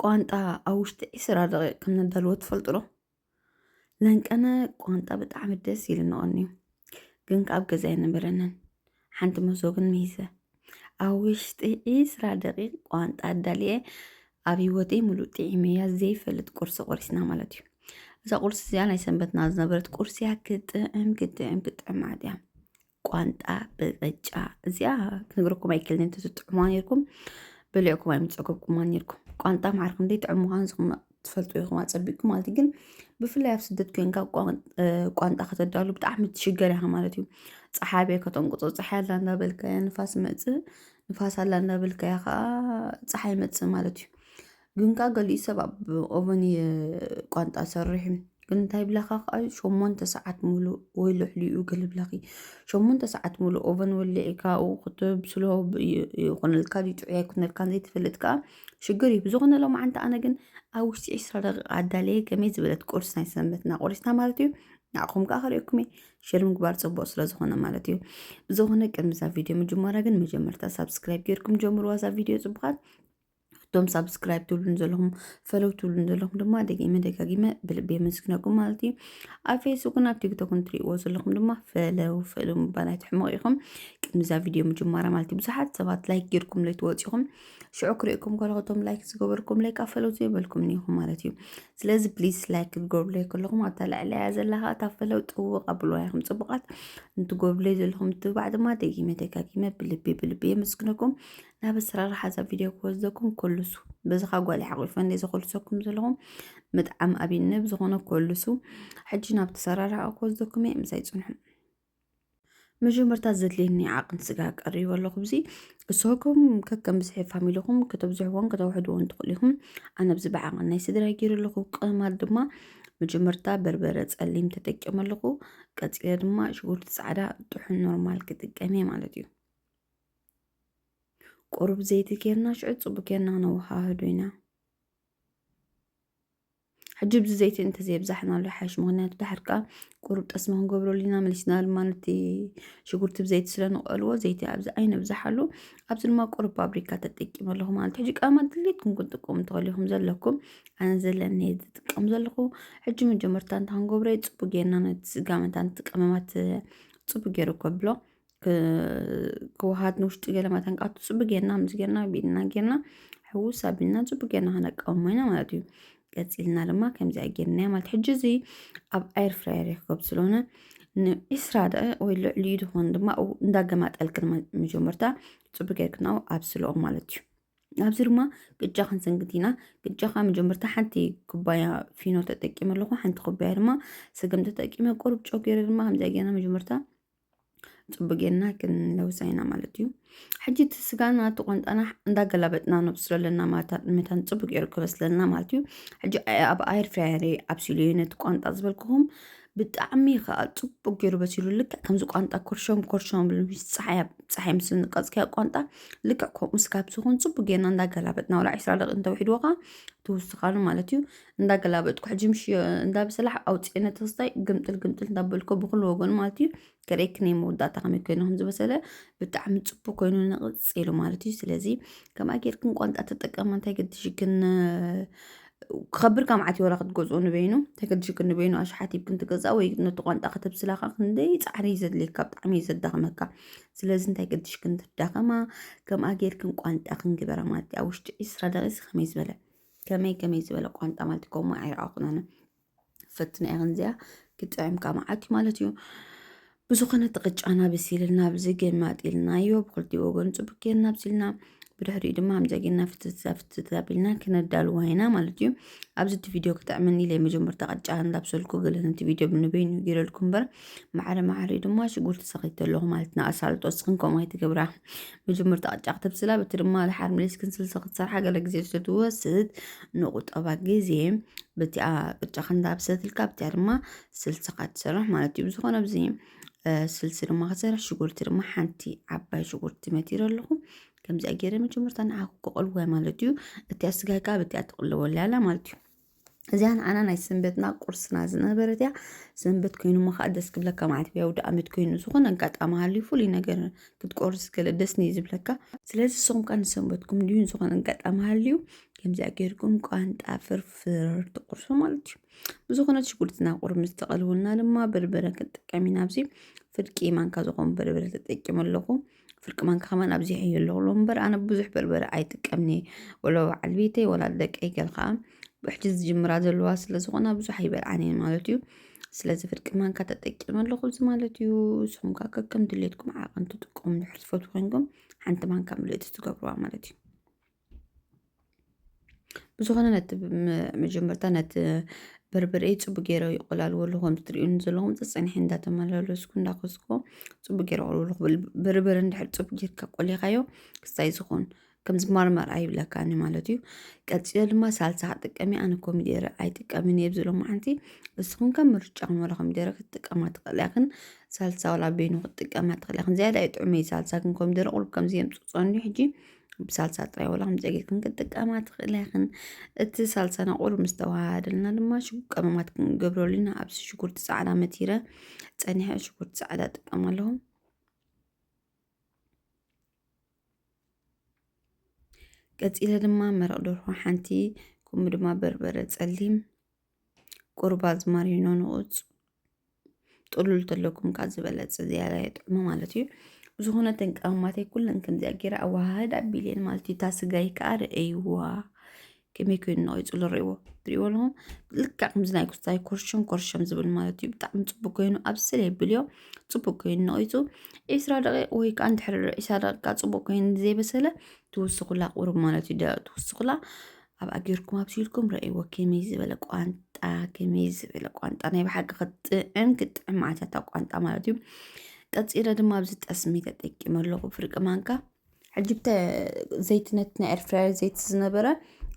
ቋንጣ ኣብ ውሽጢ ዒስራ ደቂቕ ከም ነዳልዎ ትፈልጡ ዶ? ለንቀነ ቋንጣ ብጣዕሚ ደስ ኢሉ ነቐንዩ ግን ካብ ገዛ ኣይነበረንን ሓንቲ መሶ ግን ምሂዘ ኣብ ውሽጢ ዒስራ ደቂቕ ቋንጣ ኣዳልየ ኣብ ህይወተይ ሙሉእ ጥዒመያ ዘይፈልጥ ቁርሲ ቆሪስና ማለት እዩ እዛ ቁርሲ እዚኣ ናይ ሰንበትና ዝነበረት ቁርሲ እያ ክጥዕም ክጥዕም ክጥዕም መዓት እያ ቋንጣ ብቅጫ እዚኣ ክንግርኩም ኣይክእልን ትጥዕሙዋ ነርኩም በሊዕኩም ኣይምፀገብኩማ ነርኩም ቋንጣ ማዕር ክንደይ ጥዑም ምዃኑ ዝኹም ትፈልጡ ኢኹም ኣፀቢቅኩም ማለት ግን ብፍላይ ኣብ ስደት ኮንካ ቋንጣ ከተዳሉ ብጣዕሚ ትሽገር ኢኻ ማለት እዩ ፀሓይ ከተንቁፆ ፀሓይ ኣላ እንዳበልካ ንፋስ መፅእ ንፋስ ኣላ እንዳበልካ ከዓ ፀሓይ መፅእ ማለት እዩ ግን ከኣ ገሊኡ ሰብ ኣብ ኦቨን እየ ቋንጣ ሰርሕ ግን እንታይ ብላካ ከዓ ሸሞንተ ሰዓት ሙሉእ ወይ ልዕሊኡ ገለ ብላኪ ሸሞንተ ሰዓት ሙሉእ ኦቨን ወሊዕካ ኣብኡ ክትብስሎ ብ- ይ- ይኹነልካ ድዩ ጥዑይ ኣይኩነልካን ዘይትፈልጥ ከዓ ሽግር እዩ ብዝኾነ ሎም ዓንተ ኣነ ግን ኣብ ውሽጢ ዕስራ ደቂቃ ኣዳለየ ከመይ ዝበለት ቁርሲ ናይ ሰንበትና ቆሪስና ማለት እዩ ንዓኹም ከዓ ከሪኦኩም እየ ሼር ምግባር ፅቡቅ ስለዝኾነ ማለት እዩ ብዝኾነ ቅድሚ እዛ ቪድዮ ምጅማራ ግን መጀመርታ ሳብስክራይብ ጌርኩም ጀምርዋ እዛ ቪድዮ ፅቡቃት እቶም ሳብስክራይብ ትብሉን ዘለኹም ፈለው ትብሉን ዘለኹም ድማ ደጊመ ደጋጊመ ብልቢ የመስግነኩም ማለት እዩ ኣብ ፌስቡክን ኣብ ቲክቶክን ትሪእዎ ዘለኹም ድማ ፈለው ፈሉ ምባል ኣይትሕመቑ ኢኹም ቅድሚዛ ቪድዮ ምጅማራ ማለት እዩ ብዙሓት ሰባት ላይክ ጌርኩም ለይ ትወፂኹም ሽዑ ክሪእኩም ከለኹቶም ላይክ ዝገበርኩም ለይ ካብ ፈለው ዘይበልኩም ኒኹም ማለት እዩ ስለዚ ፕሊስ ላይክ ክትገብሩለይ ከለኹም ኣብታ ልዕለያ ዘለካ እታ ፈለው ጥውቕ ኣብልዋ ኢኹም ፅቡቃት እንትገብሩለይ ዘለኹም ትባዕ ድማ ደጊመ ደጋጊመ ብልቢ ብልቢ የመስግነኩም ናብ ኣሰራርሓ እዛ ቪድዮ ክወስደኩም ኮልሱ በዚ ካብ ጓል ሓቂፈ እንደ ዘኮልሰኩም ዘለኹም ምጥዓም ኣብኒ ብዝኾነ ኮልሱ ሕጂ ናብ ተሰራርሓ ክወስደኩም እየ ምሳይ ፅንሑ መጀመርታ ዘድልየኒ ዓቕን ስጋ ቀሪቡ ኣለኹ ብዚ እሶኩም ከከም ብዝሒ ፋሚልኹም ከተብዝሕዎን ከተውሕድዎን ትኽእሉ ኢኹም ኣነ ብዚ ብዓቕን ናይ ስድራይ ገይሩ ኣለኹ ቅማት ድማ መጀመርታ በርበረ ፀሊም ተጠቂመ ኣለኹ ቀፂለ ድማ ሽጉርቲ ፃዕዳ ጥሑን ኖርማል ክጥቀም እየ ማለት እዩ ቁሩብ ዘይቲ ጌርና ሽዑ ፅቡቅ ጌርና ነወሃህዶ ኢና ሕጂ ብዚ ዘይቲ እንተዘየብዛሕናሉ ይሓይሽ ምክንያቱ ድሓር ከዓ ቁሩብ ጠስሚ ክንገብረሉ ኢና መሊስና ድማ ነቲ ሽጉርቲ ብዘይቲ ስለንቀልዎ ዘይቲ ኣብዚ ኣይነብዛሓሉ ኣብዚ ድማ ቁሩብ ፋብሪካ ተጠቂመ ኣለኹ ማለት ሕጂ ቀማ ድሌትኩም ክንጥቀሙ ትኽእሉ ኢኹም ዘለኩም ኣነ ዘለኒ ዝጥቀም ዘለኹ ሕጂ መጀመርታ እንታ ክንገብሮ እዩ ፅቡቅ ጌርና ነቲ ስጋ መታን እቲ ቀመማት ፅቡቅ ገይሩ ከብሎ ክወሃድ ንውሽጢ ገለ መተንቃቱ ፅቡቅ ጌርና ምስ ጌርና ብኢድና ጌርና ሕውስ ኣቢልና ፅቡቅ ጌርና ከነቃውሞ ኢና ማለት እዩ ቀፂልና ድማ ከምዚኣ ጌርና ማለት ሕጂ እዚ ኣብ ኣየር ፍራየር ይርከብ ስለሆነ ንዒስራ ደቂቅ ወይ ልዕሊኡ ዝኾኑ ድማ ኣብኡ እንዳገማጠልክ ድማ መጀመርታ ፅቡቅ ጌርክ ናው ኣብስልኦ ማለት እዩ ኣብዚ ድማ ቅጫ ክንስንክት ኢና ቅጫ ከዓ መጀመርታ ሓንቲ ኩባያ ፊኖ ተጠቂመ ኣለኹ ሓንቲ ኩባያ ድማ ስገም ተጠቂመ ቁሩብ ጨው ገይረ ድማ ከምዚኣ ጌርና መጀመርታ ፅቡቅ ጌርና ክንለውሳ ኢና ማለት እዩ ሕጂ እቲ ስጋና እቲ ቆንጣና እንዳገላበጥና ነብስሎ ኣለና ማለት መታን ፅቡቅ ጌሩ ክበስለልና ማለት እዩ ሕጂ ኣብ ኣየር ፍራየር ኣብሲሉ እዩ ነቲ ቋንጣ ዝበልክኹም ብጣዕሚ ከዓ ፅቡቅ ጌሩ በሲሉ ልክዕ ከምዚ ቋንጣ ኮርሸም ኮርሸም ብሉ ምስ ፀሓይ ኣብ ፀሓይ ምስ ንቀፅክያ ቋንጣ ልክዕ ከምኡ ስጋ ምስዝኾን ፅቡቅ ጌርና እንዳገላበጥና ወላ ዒስራ ደቂቅ እንተዊሕድዎ ከዓ ትውስኻሉ ማለት እዩ እንዳገላበጥኩ ሕጂ ምሽ እንዳብስላሕ ኣውፅዕነ ተስታይ ግምጥል ግምጥል እንዳበልኩ ብኩሉ ወገኑ ማለት እዩ ገረይ ክነይ መወዳእታ ከመይ ኮይኑ ከም ዝበሰለ ብጣዕሚ ፅቡቅ ኮይኑ ንቕፅ ኢሉ ማለት እዩ ስለዚ ከምኣ ጌርክን ቋንጣ ተጠቀማ እንታይ ገድሽክን ክኸብር ካብ ዓት ወላ ክትገዝኦ ንበይኑ እንታይ ገድሽክን ንበይኑ ኣሽሓት ይብክን ትገዛእ ወይ ነቲ ቋንጣ ከተብስላካ ክንደይ ፃዕሪ እዩ ዘድልየካ ብጣዕሚ እዩ ዘዳኽመካ ስለዚ እንታይ ገድሽክን ትዳኸማ ከምኣ ጌርክን ቋንጣ ክንግበራ ማለት እዩ ኣብ ውሽጢ ዒስራ ደቂስ ከመይ ዝበለ ከመይ ከመይ ዝበለ ቋንጣ ማለት ከምኡ ኣይረኣኹን ኣነ ፈትና እያ ክንዚያ ክጥዕምካ መዓት እዩ ማለት እዩ ብዝኾነ ተቕጫና ብሲልና ብዚ ግን ማጢልናዮ ብክልቲኡ ወገን ፅቡቅ ጌርና ብሲልና ብድሕሪኡ ድማ ከምዚ ጌርና ፍትፍት ፍትፍት ኣቢልና ክነዳልዋ ኢና ማለት እዩ ኣብዚ እቲ ቪድዮ ክጥዕመኒ ኢለ መጀመርታ ቅጫ እንዳብሰልኩ ገለ ነቲ ቪድዮ ብንበይኑ ጌረልኩ እምበር ማዕረ ማዕሪኡ ድማ ሽጉርቲ ሰኺተ ኣለኹ ማለት ንኣሳልጦ እስኽን ከምኡ ኣይትገብራ መጀመርታ ቅጫ ክትብስላ በቲ ድማ ድሓር መሊስኪ ስልሲ ክትሰርሓ ገለ ግዜ ስለትወስድ ንቑጠባ ግዜ በቲኣ ቅጫ ክንዳብሰትልካ በቲኣ ድማ ስልስኻ ትሰርሕ ማለት እዩ ብዝኾነ ኣብዚ ስልሲ ድማ ክሰርሕ ሽጉርቲ ድማ ሓንቲ ዓባይ ሽጉርቲ መቲረ ኣለኹ ከምዚኣ ገይረ መጀመርታ ንዓኹ ክቐልወ ማለት እዩ እቲኣ ስጋይ ከዓ በቲኣ ትቕልወላ ኣላ ማለት እዩ እዚኣ ንዓና ናይ ሰንበትና ቁርስና ዝነበረት እያ ሰንበት ኮይኑ እሞ ከዓ ደስ ክብለካ ማለት ብያው ድኣመት ኮይኑ ዝኾነ ኣጋጣሚ ሃልዩ ፍሉይ ነገር ክትቆርስ ገለ ደስ ኒ ዝብለካ ስለዚ ንስኹም ከዓ ንሰንበትኩም ድዩ ዝኾነ ኣጋጣሚ ሃልዩ ከምዚኣ ጌርኩም ቋንጣ ፍርፍር ትቁርሱ ማለት እዩ ብዝኾነ ሽጉርትና ቁርብ ምስ ተቐልወልና ድማ በርበረ ክንጥቀም ኢና ኣብዚ ፍርቂ ማንካ ዝኾኑ በርበረ ተጠቂሙ ኣለኹ ፍርቂ ማንካ ከማን ኣብዚሐዮ ኣለኹ ሎ እምበር ኣነ ብዙሕ በርበረ ኣይጥቀምኒ ወላ በዓል ቤተይ ወላ ደቀይ ገል ከዓ ብሕጂ ዝጅምራ ዘለዋ ስለ ዝኾና ብዙሕ ኣይበልዓን እየን ማለት እዩ ስለዚ ፍርቂ ማንካ ተጠቂመ ኣለኹ እዚ ማለት እዩ ንስኹም ከዓ ከከም ድሌትኩም ዓቐን ትጥቀሙ ድሕር ዝፈትው ኮይንኩም ሓንቲ ማንካ ምልእቲ ትገብርዋ ማለት እዩ ብዝኾነ ነቲ መጀመርታ ነቲ በርበረ ፅቡቅ ገይረ ይቆላልወሉ ከም እትሪኡኒ ዘለኹም ፀፀኒሐ እንዳተመላለስኩ እንዳኾስኩ ፅቡቅ ገይረ ቆልወሉ ክብል በርበረ እንድሕር ፅቡቅ ጌርካ ቆሊኻዮ ክስታይ ዝኾን ከም ዝማርማር ኣይብለካን ማለት እዩ ቀፂለ ድማ ሳልሳ ክትጥቀሚ ኣነ ኮሚደረ ኣይጥቀምን እየ ኣብዚ ሎማዓንቲ ንስኹም ከ ምርጫኹም ዋላ ኮሚደረ ክትጥቀማ ትኽእላ ኢኽን ሳልሳ ዋላ በይኑ ክትጥቀማ ትኽእላ ኢኽን ዝያዳ እዩ ጥዑመይ ሳልሳ ግን ኮሚደረ ቁሩብ ከምዚ የምፅፆኒ ሕጂ ብሳልሳ ጥራይ ዋላ ከምዚ ጌርክን ክትጥቀማ ትኽእላ ኢኽን። እቲ ሳልሳና ቁሩብ ምስ ተዋሃሃደልና ድማ ሽጉ ቀመማት ክንገብረሉ ኢና። ኣብዚ ሽጉርቲ ጻዕዳ መቲረ ጸኒሐ ሽጉርቲ ጻዕዳ እጥቀም ኣለኹ። ቀጺለ ድማ መረቕ ደርሆ ሓንቲ ከምኡ ድማ በርበረ ጸሊም ቁሩብ ኣዝማሪኖ ንቑፅ ጥሉል ተለኩም ካብ ዝበለፀ ዝያዳ የጥዕሞ ማለት እዩ ብዝኾነ ተን ቀማማተይ ኩለን ከምዚኣ ገይረ ኣወሃህድ ኣቢለን ማለት እዩ እታ ስጋይ ከዓ ርእይዋ ከመይ ኮይኑ ነቂፅሉ ርእይዎ ትርእይዎ ኣለኹም ልክዕ ከምዚ ናይ ጉስታይ ኮርሸም ኮርሸም ዝብል ማለት እዩ ብጣዕሚ ፅቡቅ ኮይኑ ኣብስለ የብልዮ ፅቡቅ ኮይኑ ነቂፁ ዒስራ ደቂቅ ወይ ከዓ እንድሕር ዒስራ ደቂቃ ፅቡቅ ኮይኑ ዘይበሰለ ትውስኹላ ቁሩብ ማለት እዩ ደቂቅ ትውስኹላ ኣብኣ ጌርኩም ኣብሲልኩም ረእይዎ ከመይ ዝበለ ቋንጣ ከመይ ዝበለ ቋንጣ ናይ ብሓቂ ክጥዕም ክጥዕም መዓልታታ ቋንጣ ማለት እዩ ቀፂለ ድማ ኣብዚ ጠስሚ ተጠቂመ ኣለኹ ፍርቂ ማንካ ሕጂ ብተ ዘይቲ ነቲ ናይ ኤርፍራየር ዘይቲ ዝነበረ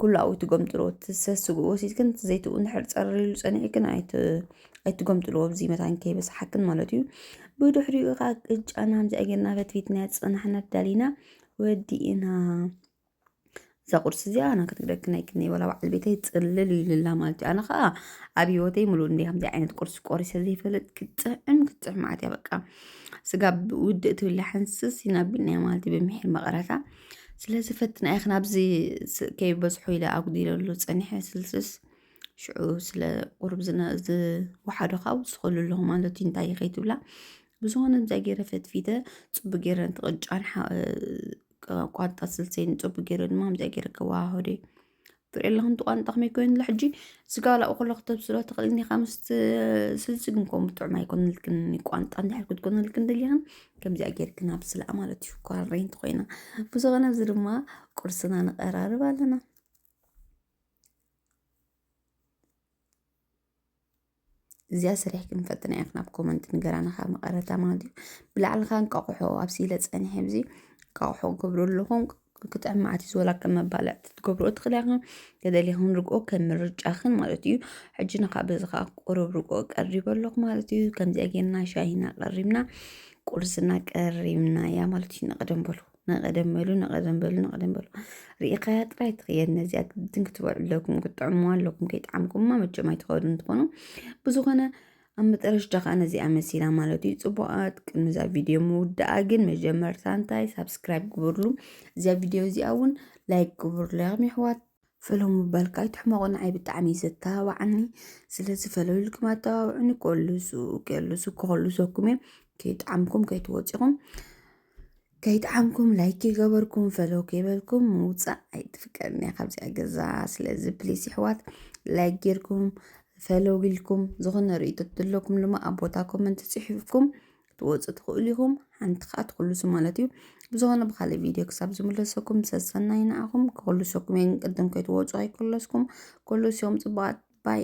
ኩሉ ኣብኡ ትጎምጥልዎ ሰስግኡ ወሲድክን እቲ ዘይቲ እውን ድሕር ፀርሪሉ ፀኒዕክን ኣይትጎምጥልዎ ብዚ መታን ከይበስሓክን ማለት እዩ ብድሕሪኡ ከዓ ቅጫና ከምዚ ኣገርና ፈትፊትና ፀናሕና ዳሊና ወዲእና እዛ ቁርሲ እዚኣ ኣነ ክትብለክን ኣይክእልን'የ ዋላ በዓል ቤተይ ጽልል ኢሉላ ማለት እዩ ኣነ ከዓ ኣብ ሂወተይ ምሉእ እንድየ ከምዚ ዓይነት ቁርሲ ቆሪሰ ዘይፈልጥ ክትጥዕም ክትጥዕም ማለት እያ በቃ ስጋ ውድእ ትብላ ሕንስስ ኢና ኣቢልናያ ማለት እዩ ብምሒር መቐረታ ስለዚ ፈትና ኢኺ ናብዚ ስ- ከይበዝሖ ኢለ ኣጉዲለሉ ፀኒሐ ስልስስ ሽዑ ስለ ቁርብ ዝነ- ዝወሓዶ ከዓ ውስኸሉ ኣለኹ ማለት እዩ እንታይ ከይትብላ ብዝኾነ ብዛ ገይረ ፈትፊተ ፅቡቅ ገይረ ነቲ ቅጫን ሓ- ቋንጣ ስልሰይ ንፅቡቅ ገይረ ድማ ምፅኣ ገይረ ከዋሃሆደ ትርኢ ኣለኹ ንቲ ቋንጣ ከመይ ኮይኑ ላ ሕጂ ስጋ ላኡ ከሎ ክተብስሎ ትኽእል እኒኻ ምስ ስልሲ ግን ከምኡ ጥዑም ኣይኮነልክን ቋንጣ እንድሕር ክትኮነልክን ደሊኽን ከምዚኣ ገይርክን ኣብስላ ማለት እዩ ኳረንቲ ኮይና ብዝኾነ እዚ ድማ ቁርስና ንቀራርብ ኣለና እዚኣ ስሪሕ ክንፈጥና ኢና ናብ ኮመንት ንገራና ካብ መቐረታ ማለት እዩ ብላዕልኻ እንቃቑሖ ኣብሲለ ፀኒሐ ብዚ እንቃቑሖ ገብሩ ኣለኹም ክጥዕም መዓት እዩ ዝወላ ከም መባልዕቲ ትገብሩ ትኽእላ ኢኹም ተደሊኹም ርግኦ ከም ምርጫኽን ማለት እዩ ሕጂ ንካብ በዚ ከዓ ቁሩብ ርግኦ ቀሪበ ኣለኹ ማለት እዩ ከምዚኣ ጌርና ሻሂና ቀሪብና ቁርስና ቀሪብና እያ ማለት እዩ ንቕደም በሉ ንቐደም በሉ ንቐደም በሉ ንቐደም በሉ ርኢኻያ ጥራይ ትኽየድ ነዚኣ ግድን ክትበልዑ ኣለኩም ክትጥዕምዋ ኣለኩም ከይጠዓምኩማ መቸም ኣይትኸዱ እንትኾኑ ብዝኾነ ኣብ መጠረሽዳ ከዓ ነዚኣ መሲላ ማለት እዩ ፅቡቃት ቅድሚ እዛ ቪድዮ ምውዳኣ ግን መጀመርታ እንታይ ሳብስክራይብ ግበርሉ እዚኣ ቪድዮ እዚኣ እውን ላይክ ግበርሉ ያም ይሕዋት ፈለሙ በልካ ኣይትሕመቑ ንዓይ ብጣዕሚ እዩ ዘተባብዓኒ ስለዚ ፈለልኩም ኣተባብዑኒ ኮልሱ ከልሱ ክኾልሰኩም እየ ከይጠዓምኩም ከይትወፂኹም ከይጠዓምኩም ላይክ ከይገበርኩም ፈለው ከይበልኩም ምውፃእ ኣይትፍቀድኒ እያ ካብዚኣ ገዛ ስለዚ ፕሊስ ይሕዋት ላይክ ጌርኩም ፈለው ኢልኩም ዝኾነ ርእይቶ ዘለኩም ድማ ኣብ ቦታ ኮመንት ፅሒፍኩም ክትወፁ ትኽእሉ ኢኹም ሓንቲ ከዓ ትኽልሱ ማለት እዩ ብዝኾነ ብካልእ ቪድዮ ክሳብ ዝምለሰኩም ሰሰናይ ንዓኹም ክኽልሰኩም እየ ግን ቅድም ከይትወፁ ኣይክለስኩም ክልስዮም ፅቡቃት ባይ